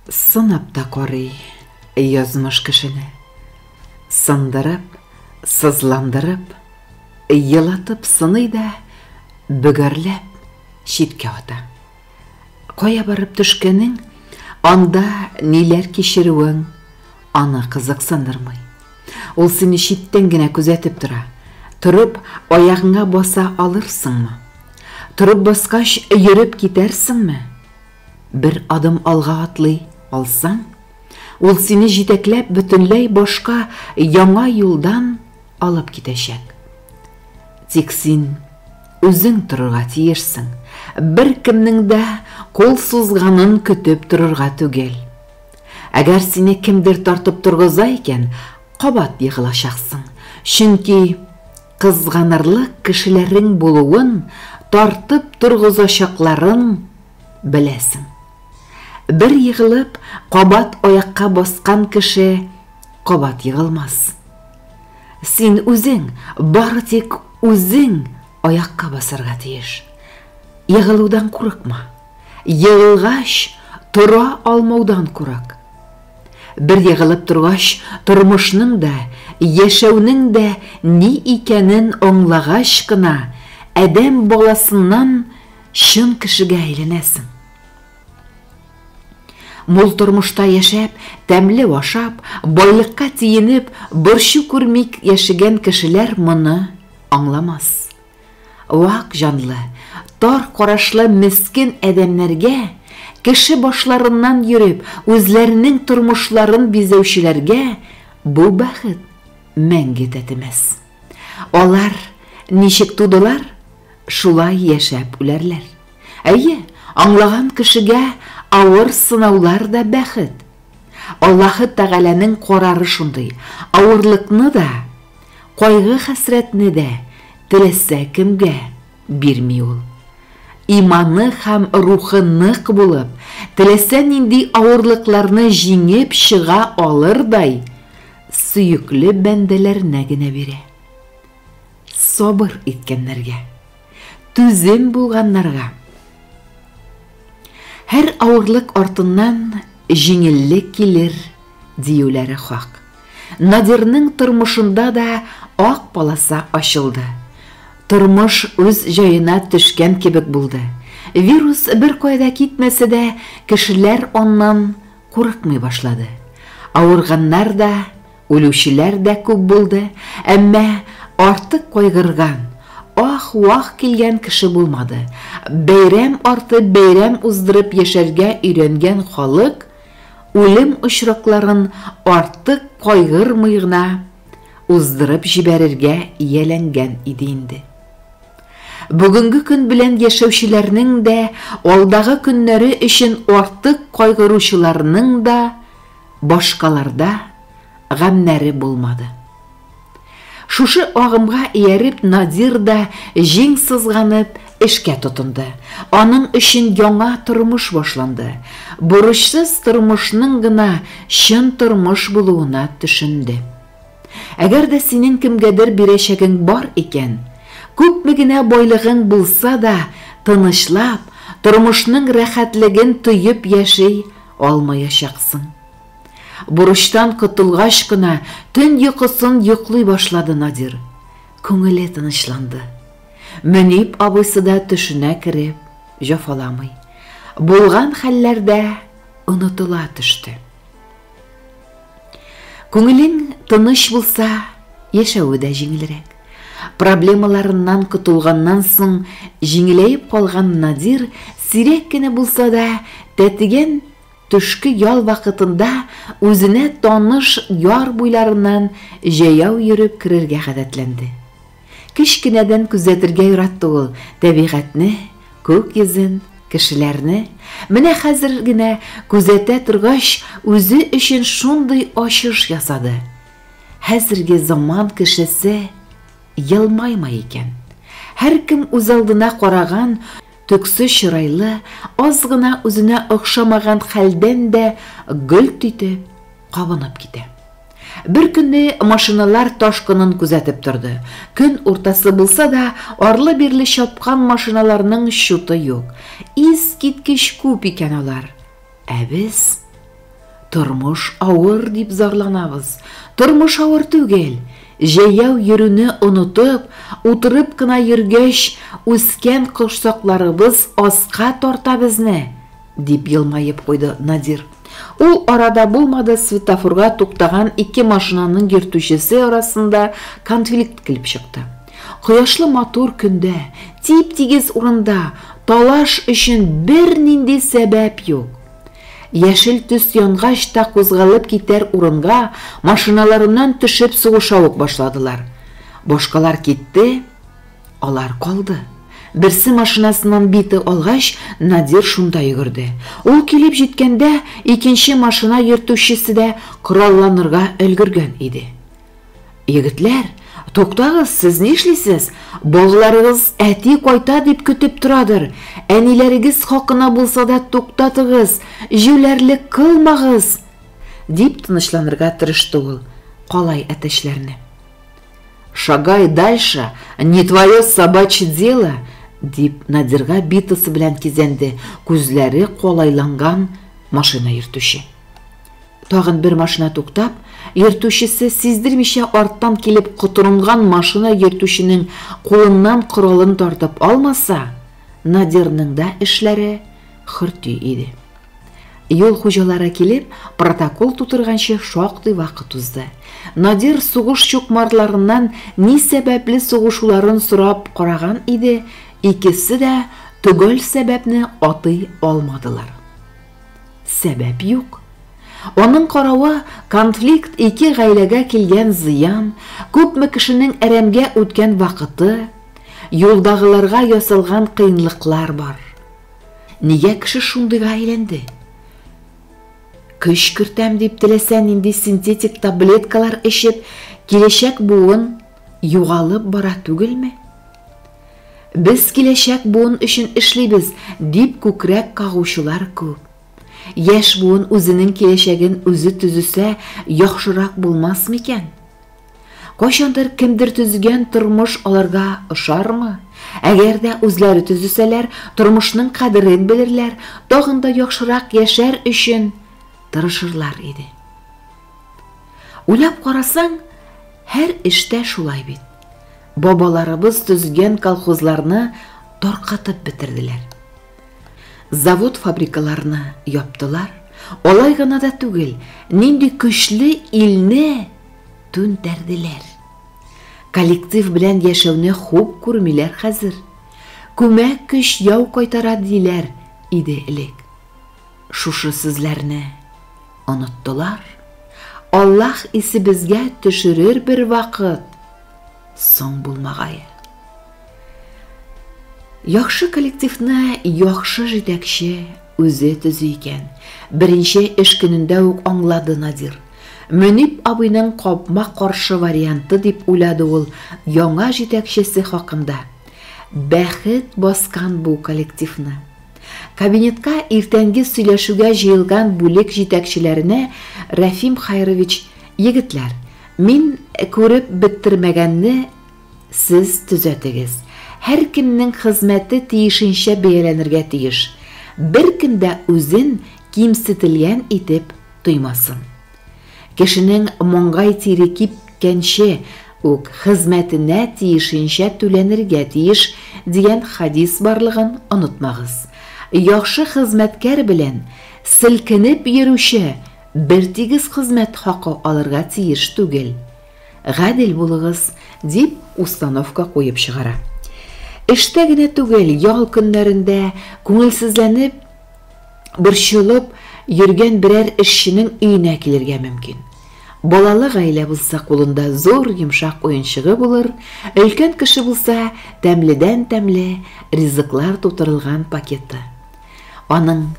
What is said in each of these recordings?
Сынап та карый язмыш кешене. Сындырып, сызландырып, елатып сыный да, бөгәрләп, читкә ата. Кая барып төшкәнең, анда ниләр кичерүең аны кызыксындырмый. Ул сине читтән генә күзәтеп тора. Торып, аягыңа баса алырсыңмы? Торып баскач, йөреп китәрсеңме? Бер адым алга атлый алсаң, ул сине җитәкләп бөтенләй башка яңа юлдан алып китәчәк. Тик син үзең торырга тиешсең, беркемнең дә кул сузганын көтеп торырга түгел. Әгәр сине кемдер тартып торгыза икән, кабат егылачаксың, чөнки кызганырлык кешеләрең булуын, тартып торгызачакларын Беләсең. Бер егылып, кабат аякка баскан кеше кабат егылмас. Син үзең, бары тик үзең аякка басарга тиеш. Егылудан курыкма. Егылгач, тора алмаудан курык. Бер егылып торгач, тормышның да, яшәүнең дә ни икәнен аңлагач кына, адәм баласыннан Чын кешегә әйләнәсең. Мул тормышта яшәп, тәмле ашап, байлыкка тиенеп, борчу күрмик яшәгән кешеләр моны аңламас. Вак җанлы, тар карашлы мескен адәмнәргә, кеше башларыннан йөреп, үзләренең тормышларын бизәүчеләргә бу бәхет мәңге тәтемәс. Алар ничек тудылар? Шулай яшәп үләрләр. Әйе, аңлаган кешегә авыр сынаулар да бәхет. Аллаһы Тәгаләнең карары шундый, авырлыкны да, кайгы-хәсрәтне дә теләсә кемгә бирми Ул. Иманы һәм рухы нык булып, теләсә нинди авырлыкларны җиңеп чыга алырдай сөекле бәндәләренә генә бирә. Сабыр иткәннәргә, түзем булганнарга. Һәр авырлык артыннан җиңеллек килер, диюләре хак. Надирның тормышында да ак полоса ачылды. Тормыш үз җаена төшкән кебек булды. Вирус бер кайда китмәсә дә, кешеләр аннан курыкмый башлады. Авырганнар да, Үлүчеләр дә күп булды, әмма артык кайгырган, ах-вах килгән кеше булмады. Бәйрәм арты бәйрәм уздырып яшәргә өйрәнгән халык үлем очракларын артык кайгырмый гына уздырып җибәрергә ияләнгән иде инде. Бүгенге көн белән яшәүчеләрнең дә, алдагы көннәре өчен артык кайгыручыларның да башкаларда гамнәре булмады. Шушы агымга ияреп Надир да җиң сызганып эшкә тотынды. Аның өчен яңа тормыш башланды. Бурычсыз тормышның гына чын тормыш булуына төшенде. Әгәр дә синең кемгәдер бирәчәгең бар икән, күпме генә байлыгың булса да, тынычлап, тормышның рәхәтлеген тоеп яши Алмаячаксың. Бурычтан котылгач кына төн йокысын йоклый башлады Надир. Күңеле тынычланды. Мөнип абыйсы да төшенә кереп, җафаламый. Булган хәлләр дә онытыла төште. Күңелең тыныч булса, яшәве дә җиңелрәк. Проблемаларыннан котылганнан соң җиңеләеп калган Надир сирәк кенә булса да тәтеген төшке ял вакытында үзенә таныш яр буйларыннан җәяү йөреп керергә гадәтләнде. Кечкенәдән күзәтергә яратты ул тәбигатьне, күк йөзен, кешеләрне. Менә хәзер генә күзәтә торгач, үзе өчен шундый ачыш ясады. Хәзерге заман кешесе елмаймый икән. Һәркем үзалдына караган, төксе чырайлы, аз гына үзенә охшамаган хәлдән дә гөлт итеп, кабынып китә. Бер көнне машиналар ташкынын күзәтеп торды. Көн уртасы булса да, арлы-бирле чапкан машиналарның чуты юк. Искиткеч күп икән алар. Ә без Тормыш авыр дип зарланабыз. Тормыш авыр түгел. Җәяү йөрүне онытып, утырып кына йөргәч, үскән корсакларыбыз аска тарта безне. Дип елмаеп куйды Надир. Ул арада булмады светофорга туктаган ике машинаның йөртүчесе арасында конфликт килеп чыкты. Кояшлы матур көндә, тип-тигез урында талаш өчен бернинди сәбәп юк. Яшел төс янгач та кузгалып китәр урынга машиналарыннан төшеп сугыша ук башладылар. Башкалар китте, Алар калды. Берсе машинасыннан бите алгач, Надир шунда йөгерде. Ул килеп җиткәндә, икенче машина йөртүчесе дә коралланырга өлгергән иде. Егетләр, туктагыз, сез ни эшлисез? Балаларыгыз әти кайта дип көтеп торадыр. Әниләрегез хакына булса да туктатыгыз, җүләрлек кылмагыз! дип тынычланырга тырышты ул калай әтәчләрне. Шагай дальше, не твое собачье дело, дип Надирга битасы белән кизәнде күзләре калайланган машина йөртүче. Тагын бер машина туктап, йөртүчесе сиздермичә арттан килеп котырынган машина йөртүченең кулыннан коралын тартып алмаса, Надирның да эшләре хөрти иде. Юл хуҗалары килеп, протокол тутырганчы шактый вакыт узды. Надир сугыш чукмарларыннан ни сәбәпле сугышуларын сорап караган иде, икесе дә төгәл сәбәпне атый алмадылар. Сәбәп юк. Аның каравы, конфликт ике гаиләгә килгән зыян, күпме кешенең әрәмгә үткән вакыты, юлдагыларга ясалган кыенлыклар бар. Нигә кеше шундыйга әйләнде? Көч кертәм дип теләсә нинди синтетик таблеткалар эчеп, киләчәк буын югалып бара түгелме? Без киләчәк буын өчен эшлибез, дип күкрәк кагучылар күп. Яшь буын үзенең киләчәген үзе төзесә, яхшырак булмас микән? Кайчандыр кемдер төзегән тормыш аларга ошармы? Әгәр дә үзләре төзесәләр, тормышның кадерен белерләр, тагын да яхшырак яшәр өчен тырышырлар иде. Уйлап карасаң, һәр эштә шулай бит. Бабаларыбыз төзгән колхозларны таркатып бетерделәр. Завод-фабрикаларны яптылар, алай гына да түгел, нинди көчле илне түнтәрделәр. Коллектив белән яшәүне хуп күрмиләр хәзер. Күмәк көч яу кайтара диләр иде элек. Шушы сүзләрне Оныттылар. Аллаһ исебезгә төшерер бер вакыт. Соң булмагае. Яхшы коллективны яхшы җитәкче үзе төзи икән. Беренче эш көнендә үк аңлады Надир. Мөнип абыйның капма-каршы варианты дип уйлады ул яңа җитәкчесе хакында. Бәхет баскан бу коллективны. Кабинетка иртәнге сөйләшүгә җыелган бүлек җитәкчеләренә Рәфим Хәйрович, Егетләр, мин күреп беттермәгәнне сез төзәтегез. Һәркемнең хезмәте тиешенчә бәяләнергә тиеш. Беркем дә үзен кимсетелгән итеп тоймасын. Кешенең маңгай тире кипкәнче үк хезмәтенә тиешенчә түләнергә тиеш, дигән хәдис барлыгын онытмагыз. Яхшы хезмәткәр белән селкенеп йөрүче бертигез хезмәт хакы алырга тиеш түгел. Гадел булыгыз, дип установка куеп чыгара. Эштә генә түгел, ял көннәрендә күңелсезләнеп, борчылып йөргән берәр эшченең өенә килергә мөмкин. Балалы гаилә булса, кулында зур йомшак уенчыгы булыр, өлкән кеше булса, тәмледән-тәмле ризыклар тутырылган пакеты. Аның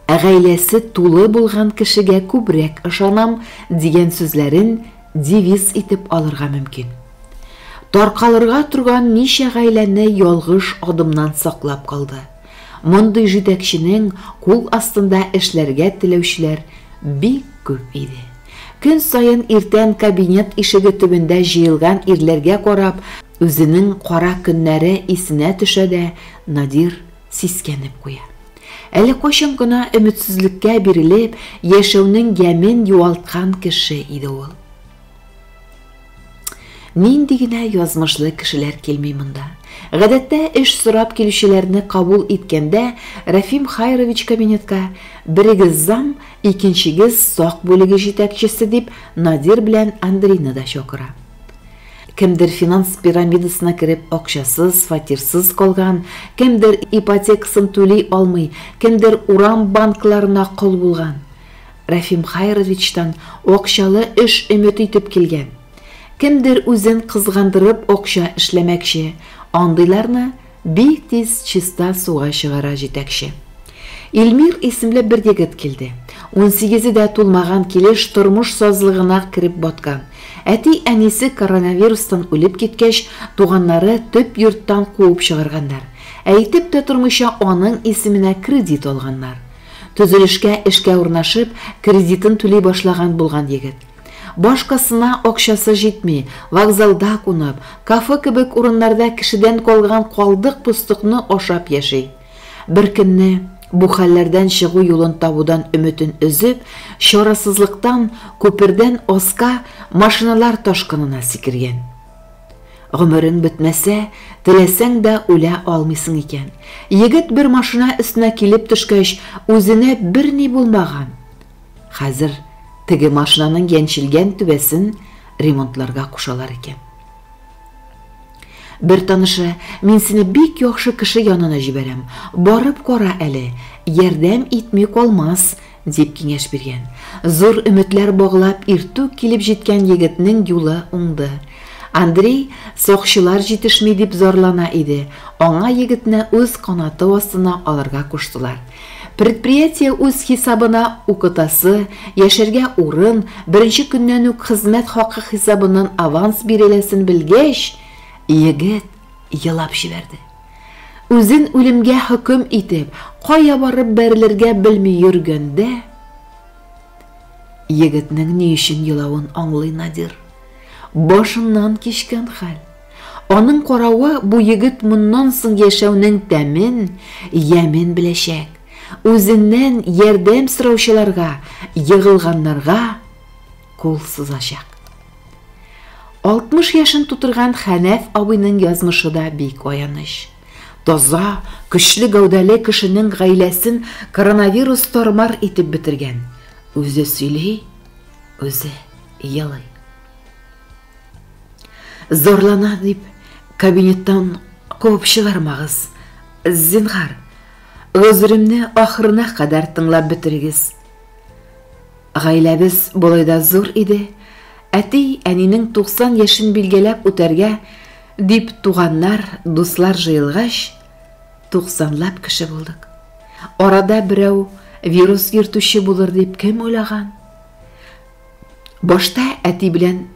Ә гаиләсе тулы булган кешегә күбрәк ышанам дигән сүзләрен девиз итеп алырга мөмкин. Таркалырга торган ничә гаиләне ялгыш адымнан саклап калды. Мондый җитәкченең кул астында эшләргә теләүчеләр бик күп иде. Көн саен иртән кабинет ишеге төбендә җыелган ирләргә карап, үзенең кара көннәре исенә төшә дә Надир сискәнеп куя. Әле кайчан гына өметсезлеккә бирелеп, яшәүнең ямен юалткан кеше иде ул. Нинди генә язмышлы кешеләр килми монда. Гадәттә эш сорап килүчеләрне кабул иткәндә Рәфим Хайрович кабинетка берегез зам, икенчегез сак бүлеге җитәкчесе дип Надир белән Андрейны да чакыра. Кемдер финанс пирамидасына кереп акчасыз, фатирсыз калган, кемдер ипотекасын түли алмый, кемдер урам банкларына кол булган. Рәфим Хәйровичтан акчалы эш өмет итеп килгән. Кемдер үзен кызгандырып акча эшләмәкче, андыйларны бик тиз чиста суга чыгара җитәкче. Илмир исемле бер егет килде. Унсигезе дә тулмаган килеш тормыш сазлыгына кереп баткан. Әти-әнисе коронавирустан үлеп киткәч, туганнары төп йорттан куып чыгарганнар. Әйтеп тә тормыйча аның исеменә кредит алганнар. Төзелешкә эшкә урнашып, кредитын түли башлаган булган егет. Башкасына акчасы җитми, вокзалда кунып, кафе кебек урыннарда кешедән калган калдык-постыкны ашап яши. Беркөнне, бу хәлләрдән чыгу юлын табудан өметен өзеп, чарасызлыктан күпердән аска машиналар ташкынына сикергән. Гомерең бетмәсә, теләсәң дә үлә алмыйсың икән. Егет бер машина өстенә килеп төшкәч, үзенә берни булмаган. Хәзер теге машинаның яньчелгән түбәсен ремонтларга кушалар икән. Бер танышы, мин сине бик яхшы кеше янына җибәрәм, барып кара әле, ярдәм итми калмас, Дип киңәш биргән. Зур өметләр баглап иртүк килеп җиткән егетнең юлы уңды. Андрей сакчылар җитешми дип зарлана иде, аңа егетне үз канаты астына алырга куштылар. Предприятие үз хисабына укытасы, яшәргә урын, беренче көннән үк хезмәт хакы хисабыннан аванс биреләсен белгәч, егет елап җибәрде. Үзен үлемгә хөкем итеп, кая барып бәрелергә белми йөргәндә, егетнең ни өчен елавын аңлый Надир. Башыннан кичкән хәл. Аның каравы бу егет моннан соң яшәүнең тәмен, ямен беләчәк. Үзеннән ярдәм сораучыларга, егылганнарга кул сузачак. 60 яшен тутырган Хәнәф абыйның язмышы да бик аяныч. Таза, көчле гәүдәле кешенең гаиләсен коронавирус тормар итеп бетергән. Үзе сөйли, үзе елый. Зарлана дип кабинеттан куып чыгармагыз. Зинхар, гозеремне ахырына кадәр тыңлап бетерегез. Гаиләбез болай да зур иде, әти, әнинең 90 яшен билгеләп үтәргә дип туганнар, дуслар җыелгач, туксанлап кеше булдык. Арада берәү вирус йөртүче булыр дип кем уйлаган? Башта әти белән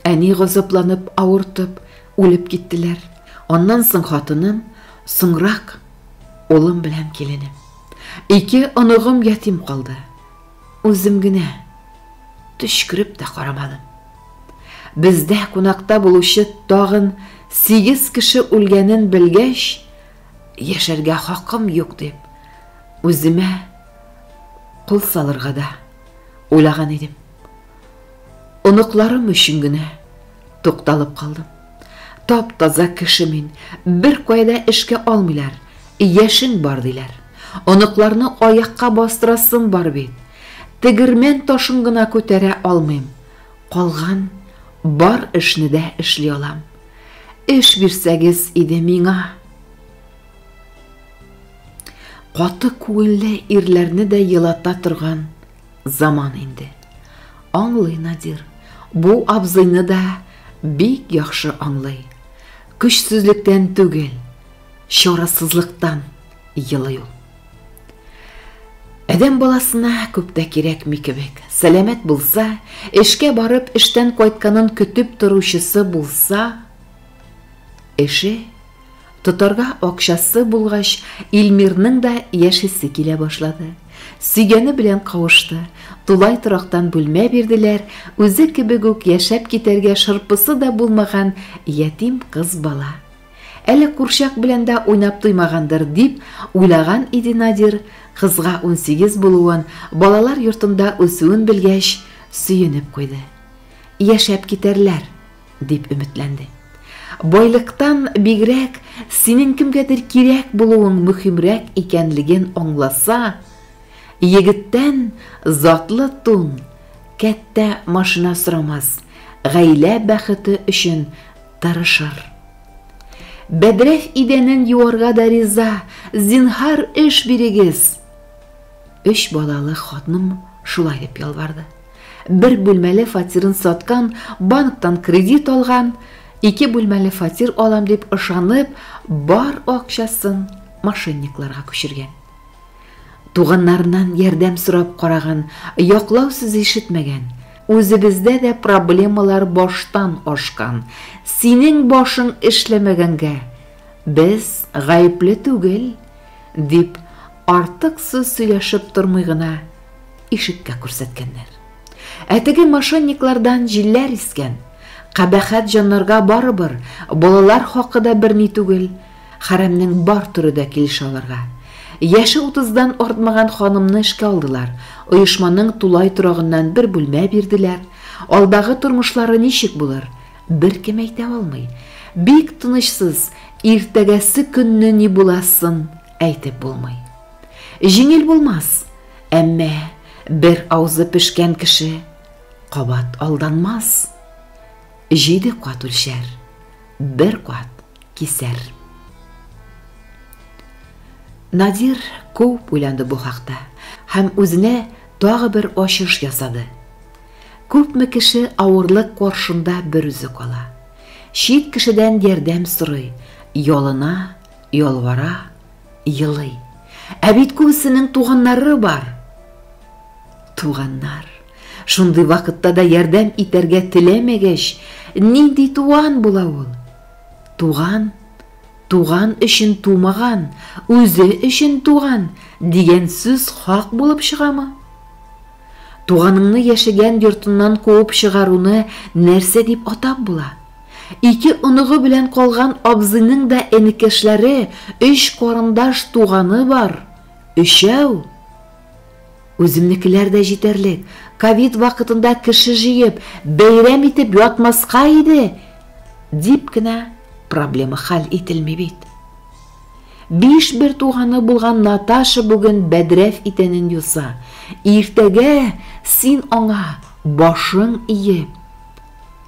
әни газапланып, авыртып, үлеп киттеләр. Аннан соң хатыным, соңрак улым белән киленем. Ике оныгым ятим калды. Үзем генә төчкереп тә карамадым. Бездә кунакта булучы тагын сигез кеше үлгәнен белгәч, яшәргә хакым юк дип, үземә кул салырга да уйлаган идем. Оныкларым өчен генә Тукталып калдым. Тап-таза кеше мин, бер кайда эшкә алмыйлар. Яшен бар диләр. Оныкларны аякка бастырасым бар бит. Тегермән ташын гына күтәрә алмыйм. Калган бар эшне дә эшли алам. Эш бирсәгез иде миңа. Каты күңелле ирләрне дә елата торган Заман инде. Аңлый Надир. Бу абзыйны да бик яхшы аңлый. Көчсезлектән түгел, чарасызлыктан елый ул. Адәм баласына күп тә кирәкми кебек. Сәламәт булса, эшкә барып, эштән кайтканын көтеп торучысы булса, эше Тотарга акчасы булгач, Илмирның да яшисе килә башлады. Сөйгәне белән кавышты. Тулай торактан бүлмә бирделәр, үзе кебек үк яшәп китәргә шырпысы да булмаган ятим кыз бала. Әле курчак белән дә уйнап туймагандыр, дип уйлаган иде Надир, кызга унсигез булуын, балалар йортында үсүен белгәч, сөенеп куйды. Яшәп китәрләр. дип өметләнде. Байлыктан бигрәк синең кемгәдер кирәк булуың мөхимрәк икәнлеген аңласа, егеттән затлы тун, кәттә машина сорамас, гаилә бәхете өчен тырышыр. Бәдрәф идәнен юарга да риза, зинһар эш бирегез. Өч балалы хатным шулай дип ялварды. Бер бүлмәле фатирын саткан, банктан кредит алган, ике бүлмәле фатир алам дип ышанып, бар акчасын мошенникларга күчергән. Туганнарыннан ярдәм сорап караган, яклау сүзе ишетмәгән. Үзебездә дә проблемалар баштан ашкан. Синең башың эшләмәгәнгә без гаепле түгел, дип артык сүз сөйләшеп тормый гына Ишеккә күрсәткәннәр. Ә теге мошенниклардан җилләр искән. Кабәхәт җаннарга барыбер, балалар хакы да берни түгел, хәрәмнең бар төре дә килешә аларга. Яше утыздан артмаган ханымны эшкә алдылар, оешманың тулай торагыннан бер бүлмә бирделәр. Алдагы тормышлары ничек булыр, беркем әйтә алмый. Бик тынычсыз, иртәгәсе көнне ни буласын әйтеп булмый. Җиңел булмас, әмма бер аузы пешкән кеше кабат алданмас. Җиде кат үлчәр, бер кат кисәр. Надир күп уйланды бу хакта һәм үзенә тагы бер ачыш ясады. Күпме кеше авырлык каршында бер үзе кала. Чит кешедән ярдәм сорый, ялына, ялвара, Елый. Ә бит күбесенең туганнары бар. Туганнар. Шундый вакытта да ярдәм итәргә теләмәгәч, нинди туган була ул? Туган, туган өчен тумаган, үзе өчен туган дигән сүз хак булып чыгамы? Туганыңны яшәгән йортыннан куып чыгаруны нәрсә дип атап була? Ике оныгы белән калган абзыйның да энекәшләре, өч карындаш туганы бар. Өчәү. Үземнекеләр дә җитәрлек. Ковид вакытында кеше җыеп, бәйрәм итеп ятмаска иде, дип кенә проблема хәл ителми бит. Биш бер туганы булган Наташа бүген бәдрәф итәнен юса. Иртәгә син аңа башың иеп,